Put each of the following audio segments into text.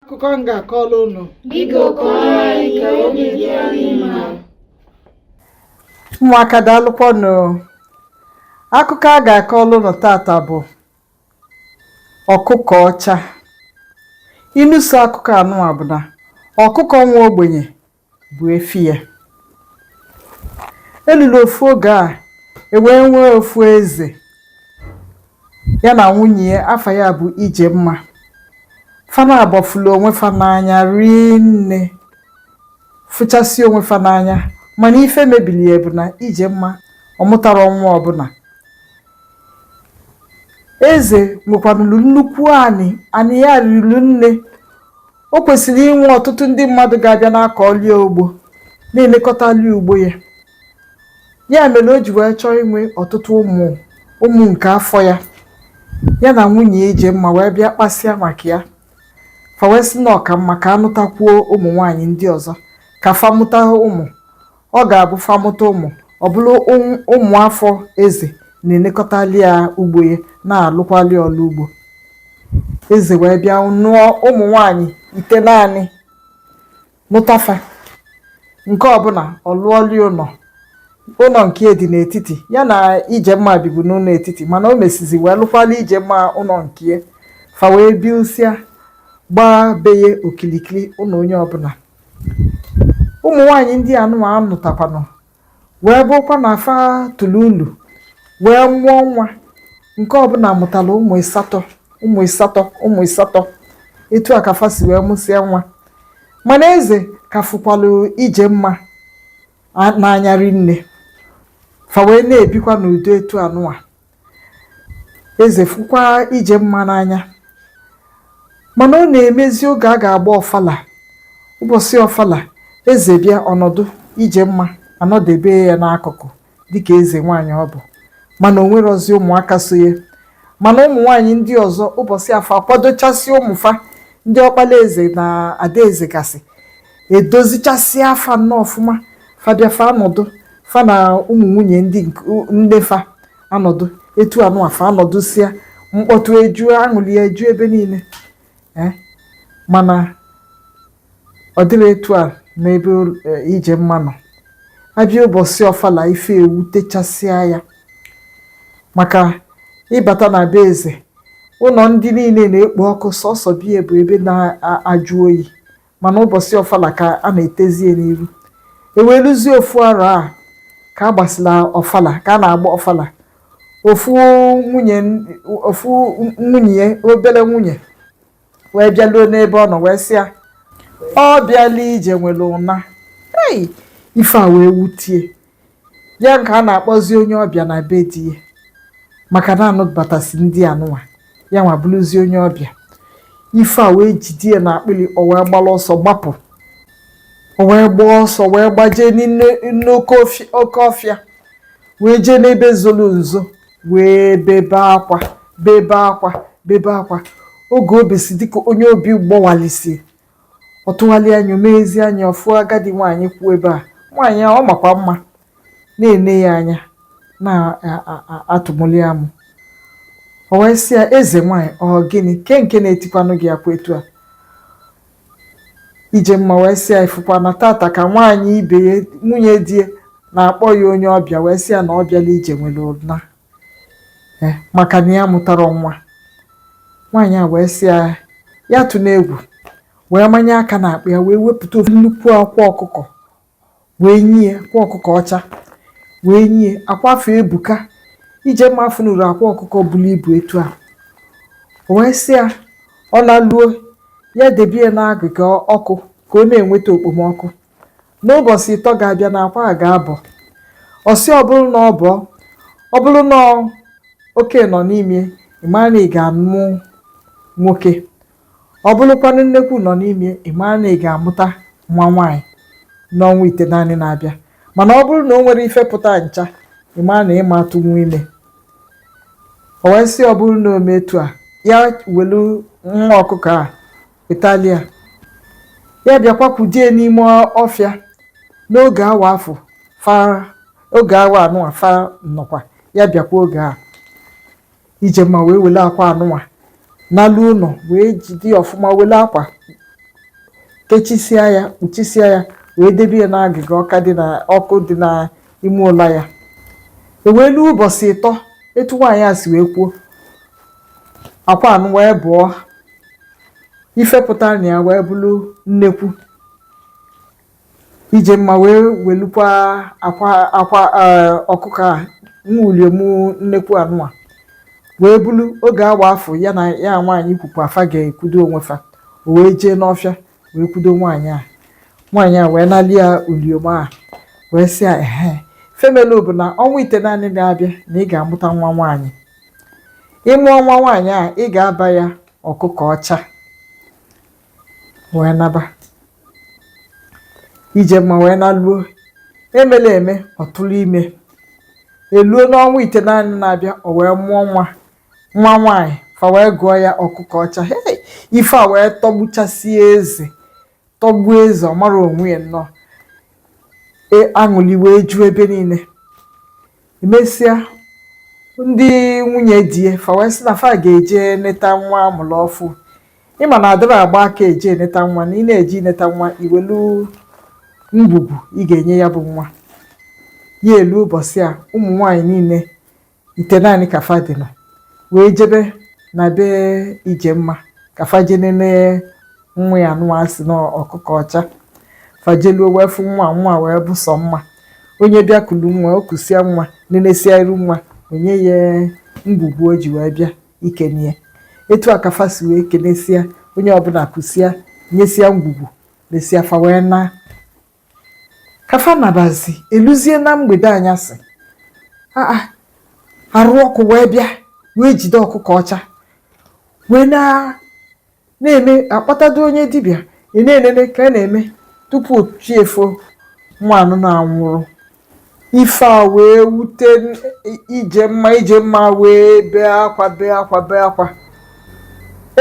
akụkọ m ga-akọrọ unu Biko kọọrọ anyị ka obi dị anyị mma. ụmụaka daalụkwanụ akụkọ a ga-akọlụ unu tata bụ ọkụkọ ọcha inu so akụkọ anụwa bụ na ọkụkọ nwa ogbenye bụ efi ya e lulu ofu oge a e wee nwee ofu eze ya na nwunye ya afa ya bụ Ijemma fa naabọ fụlụ onwe fa n'anya rinne fụchasị onwe fa n'anya mana ife mebili ya bụ na Ijemma amụtarọ nwa ọbụna Eze nwekwanụrụ nnukwu anị, anị ya rili nne. O kwesịrị inwe ọtụtụ ndị mmadụ ga-abịa na-akọlụ ya ugbo, na-enekọtalụ ya ugbo ya. Ya mere o ji wee chọọ inwe ọtụtụ ụmụ ụmụ nke afọ ya. Ya na nwunye ya Ijemma wee bịa kpasịa maka ya. Fa wee sị na ọ ka mma ka a nụtakwuo ụmụ nwaanyị ndị ọzọ ka fa mụta ụmụ. Ọ ga-abụ fa mụta ụmụ, ọ bụrụ ụm- ụmụ afọ eze na-enekọtalụ ya ugbo ya na-alụkwalụ ya ọlụ ugbo eze wee bịa nụọ ụmụ nwanyị itenaanị nụta fa nke ọbụna ọ lụọlụ ya ụnọ ụnọ nke ya dị n'etiti ya na Ijemma bibu n'ụnọ etiti mana o mesịzị wee lụkwalụ Ijemma ụnọ nke ya fa wee bisịa gbaa be ya okilikili ụnọ onye ọbụna ụmụ nwaanyị ndị a nụwa a nụtakwanụ wee bụrụkwa na fa tụrụ ulu wee mụọ nwa nke ọbụna mụtalụ ụmụ ịsatọ ụmụ ịsatọ ụmụ ịsatọ etu a ka fa si wee mụsịa nwa mana eze ka fụkwalụ Ijemma a- n'anya rinne fa wee na-ebikwa n'udo etu anụwa Eze fụkwa Ijemma n'anya. Mana ọ na-emezi oge a ga-agba ọfala. Ụbọsị ọfala, eze bịa ọ nọdụ, Ijemma anọdebe ya n'akụkụ dịka eze nwaanyị ọ bụ. Mana o nwerọzi ụmụaka so ya. Mana ụmụ nwaanyị ndị ọzọ ụbọsị afụ akwadochasị ụmụ fa ndị ọkpala eze na adaeze gasị edozichasịa fa nnọọ ọfụma fa bịa fa anọdụ fa na ụmụ nwunye ndị nne fa anọdụ etu anụwa fa anọdụsịa mkpọtụ eju aṅụlị eju ebe niine eh, mana ọ dịrọ etu a n'ebe eh, Ijemma nọ a bịa ụbọsị ọfala ife ewutechasịa ya maka ị bata na be eze ụnọ ndị niine na-ekpo ọkụ sọsọ be ya bụ ebe na-ajụ oyi mana ụbọsị ọfala ka a na-etezie n'iru e wee luzie ofu arọ a ka a gbasịla ọfala ka a na-agba ọfala ofu nwunye ofu nwunye ya obele nwunye wee bịaluo n'ebe ọ nọ wee sị ya ọ bịalụ ije nwere ụna ei ife a wee wutie ya nke a na-akpọzi onye ọbịa na be di ya maka na a nụbatasị ndị anụnwa ya nwa bụrụzie onye ọbịa ife a wee jide ya na akpịrị o wee gbara ọsọ gbapụ o wee gbaa ọsọ wee gbajee n'ime n'oke ofi- oke ọfịa wee jee n'ebe zoro nzo wee bebe akwa bebe akwa bebe akwa oge o besi dịka onye obi gbawalisi Ọ tụgharịa anya, o meghezi anya, ọ fụọ agadi nwaanyị kwụ ebe a. Nwaanyị a, ọ makwa mma, na-ene ya anya, na-atụmụlị amụ. O wee sị ya, eze nwaanyị, ọ gịnị? Ke nke na-etikwanụ gị akwa etu a? Ijemma wee sị ya, ị fụkwa na tata ka nwaanyị ibe ya, nwunye di ya, na-akpọ ya onye ọbịa, wee sị ya na ọ bịalụ ije nwere ụna. eh, maka na ya amụtarọ nwa nwaanyị a wee sị ya ya atụna egwu wee manye aka na akpa ya wee wepụta ofu nnukwu akwa ọkụkọ wee nye akwa ọkụkọ ọcha wee nye akwa afụ ebuka Ijemma afụnurọ akwa ọkụkọ buru ibu etu a o wee sị ya ọ naluo ya debe ya n'agịga ọkụ ka ọ na-enweta okpomọkụ N'ụbọsị ịtọ ga-abịa na akwa a ga-abọ. Ọ sị ọ bụrụ na ọ bụọ, ọ bụrụ na ọ- oke nọ n'ime, ị ma na ị ga-amụ nwoke. Ọ bụrụkwanụ nnekwu nọ n'ime, ị ma na ị ga-amụta nwa nwaanyị n'ọnwa itenaanị na-abịa. Mana ọ bụrụ na o nwerọ ife pụta ncha, ị ma na ị ma atụnwu ime. O wee sị ọ bụrụ na o mee etu a, ya welu nwa ọkụkọ a wetalụ ya ya bịakwa kwudo ya n'ime ọfịa n'oge awa afụ fa oge awa anụnwa fa nọkwa ya bịakwa oge a Ijemma wee wele akwa anụnwa naluo ụnọ wee jide ya ọfụma wele akwa kechisia ya kpuchisia ya wee debe ya n'agịga ọkụ dị na ọkụ dị n'ime ụlọ ya e wee luo ụbọsị ịtọ etu nwaanyị a si wee kwuo akwa anụ wee bụọ ife pụtara na ya wee bụrụ nnekwu Ijemma wee welukwa akwa akwa eh, ọkụkọ a nwa uliom nnekwu anụwa wee bulu oge awa afụ ya na ya nwaanyị kwukwa fa ga-ekwudo onwe fa o wee jee n'ọfịa wee kwudo nwaanyị a nwaanyị a wee nali ya uliom a wee sị ya ehe ife melu bụ na ọnwa itenaanị na-abịa na ị ga-amụta nwa nwaanyị ị mụọ nwa nwaanyị a ị ga-aba ya ọkụkọ ọcha wee naba Ijemma wee naluo emela eme ọ tụrụ ime eluo n'ọnwa itenaanị na-abịa o wee mụọ nwa nwaanyị fa wee gụọ ya ọkụkọ ọcha hey ife a wee tọgbuchasie eze tọgbuo eze ọ marọ onwe ya nnọọ e aṅụli wee ju ebe niine emesịa ndị nwunye di ya fa wee sị na fa ga-eje neta nwa a mụrụ ọfụ ị ma na adịrọ agba aka eje eneta nwa na ị na-eje ineta nwa i welu ngwugwu ị ga-enye ya bụ nwa ya eluo ụbọsị a ụmụ nwaanyị niine itenaanị ka fa dị na wee jebe na be Ijemma ka fa je nene nwa ya nụwa sị na ọkụkọ ọcha fa jeluo wee fụ nwa nwa wee bụ sọ mma onye bịa kulu nwa o kusia nwa nenesia iru nwa o nye ya ngwugwu o ji wee bịa ikenie etu a ka fa si wee kenesia onye ọbụla kusia nyesia ngwugwu nesia fa wee na ka fa nabazi eluzie na mgbede anyasị a a arụ ọkụ wee bịa wee jide ọkụkọ ọcha wee na na-eme akpọtado onye dibịa ị na-enene ka a na-eme tupu chi efo nwa anụnwa anwụrụ Ife a wee wute n- i- Ijemma, Ijemma wee bee akwa, bee akwa, bee akwa.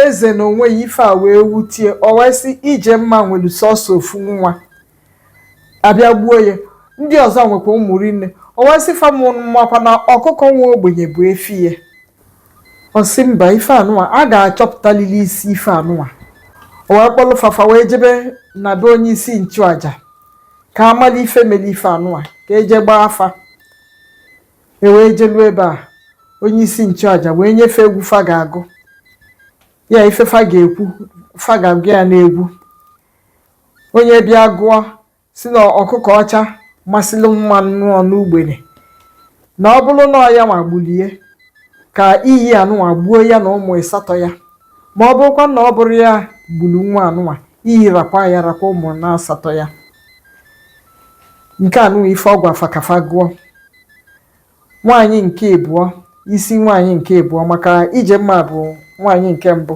Eze na onwe ya ife a wee wutie, ọ wee sị Ijemma nwere sọsọ ofu nwa, a bịa gbuo ya. Ndị ọzọ nwekwa ụmụ rinne, ọ wee sị fa makwa na ọkụkọ nwa ogbenye bụ efi ya. Ọ sị mba, ife anụwa, a ga-achọpụtalili isi ife anụwa. O wee kpọlụ fa fa wee jebe na be onye isi nchụaja. ka a mala ife mere ife anụwa ka e je gbaa afa e wee jelu ebe a onye isi nchụaja wee nye fa egwu fa ga-agụ ya ife fa ga-ekwu fa ga-agụ ya n'egwu onye bịa gụọ sị na ọkụkọ ọcha masịrị mma nwụọ n'ugbene na ọ bụrụ na ọ ya nwa gbulie ka iyi anụnwa gbuo ya na ụmụ ịsatọ ya ma ọ bụrụkwa na ọ bụrọ ya gburu nwa anụnwa iyi rakwa ya rakwa ụmụ na asatọ ya nke anụnwa ife ọ gwa fa ka fa gụọ nwaanyị nke ịbụọ isi nwaanyị nke ịbụọ maka Ijemma bụ nwaanyị nke mbụ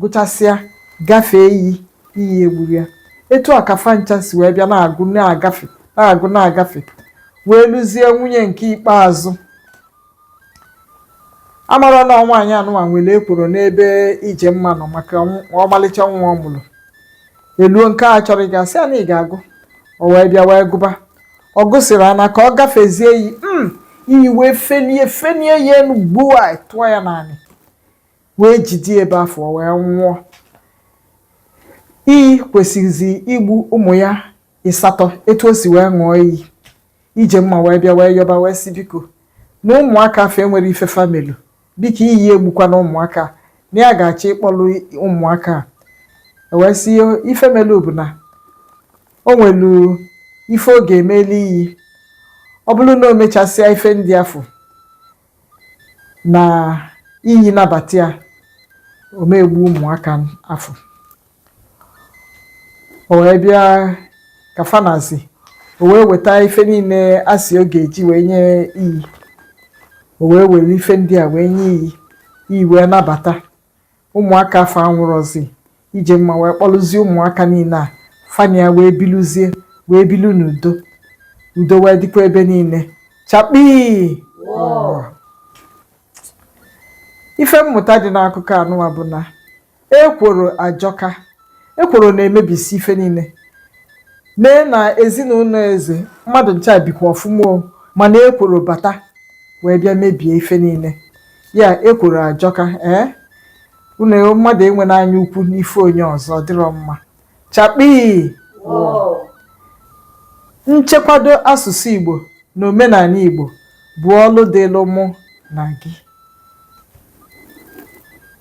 gụchasịa gafee iyi iyi egburọ ya etu a ka fa ncha si wee bịa na-agụ na-agafe na-agụ na-agafe wee luzie nwunye nke ikpeazụ a mara na nwaanyị anụnwa nwere ekworo n'ebe Ijemma nọ maka nw- ọmalịcha nwa ọ mụrụ e luo nke a chọrọ ịga sị ya na ị ga-agụ o wee bịa wee gụba ọ gụsịrị ana ka ọ gafezie iyi m iyi wee felie felie ya enu gbuo ya tụọ ya n'anị wee jide ebe afụ wee nwụọ iyi kwesịrịzi igbu ụmụ ya ịsatọ etu o si wee ṅụọ iyi Ijemma wee bịa wee yọba wee sị biko na ụmụaka afụ enwerọ ife fa melu biko iyi egbukwana ụmụaka a, na ya ga-achọ ịkpọlụ ụmụaka a e wee sị ife melu bụ na o nwelu ife ọ ga-emeli iyi ọ bụrụ na o mechasịa ife ndị afụ na iyi nabata ya ọ ma-egbu ụmụaka afụ o wee bịa ka fa nazi o wee weta ife niile a sị ọ ga-eji wee nye iyi o wee were ife ndị a wee nye iyi iyi wee nabata Ụmụaka afụ anwụrọzi. Ijemma wee kpọlụzie ụmụaka niile a fa na ya wee biluzie wee bilu n'udo. Udo wee dịkwa ebe niile. Chakpii! Wọọ! Ife mmụta dị n'akụkọ anụwa bụ na ekworo ajọka. Ekworo na-emebisi ife niile. Nee na ezinụnọ eze, mmadụ ncha bikwa ọfụma o, mana ekworo bata wee bịa mebie ife niile. ya ekworo ajọka ee unu mmadụ enwena anya ukwu n'ife onye ọzọ ọ dịrọ mma chakpii nchekwado asụsụ igbo na omenanị igbo bụ ọlụ dịlụ mụ na gị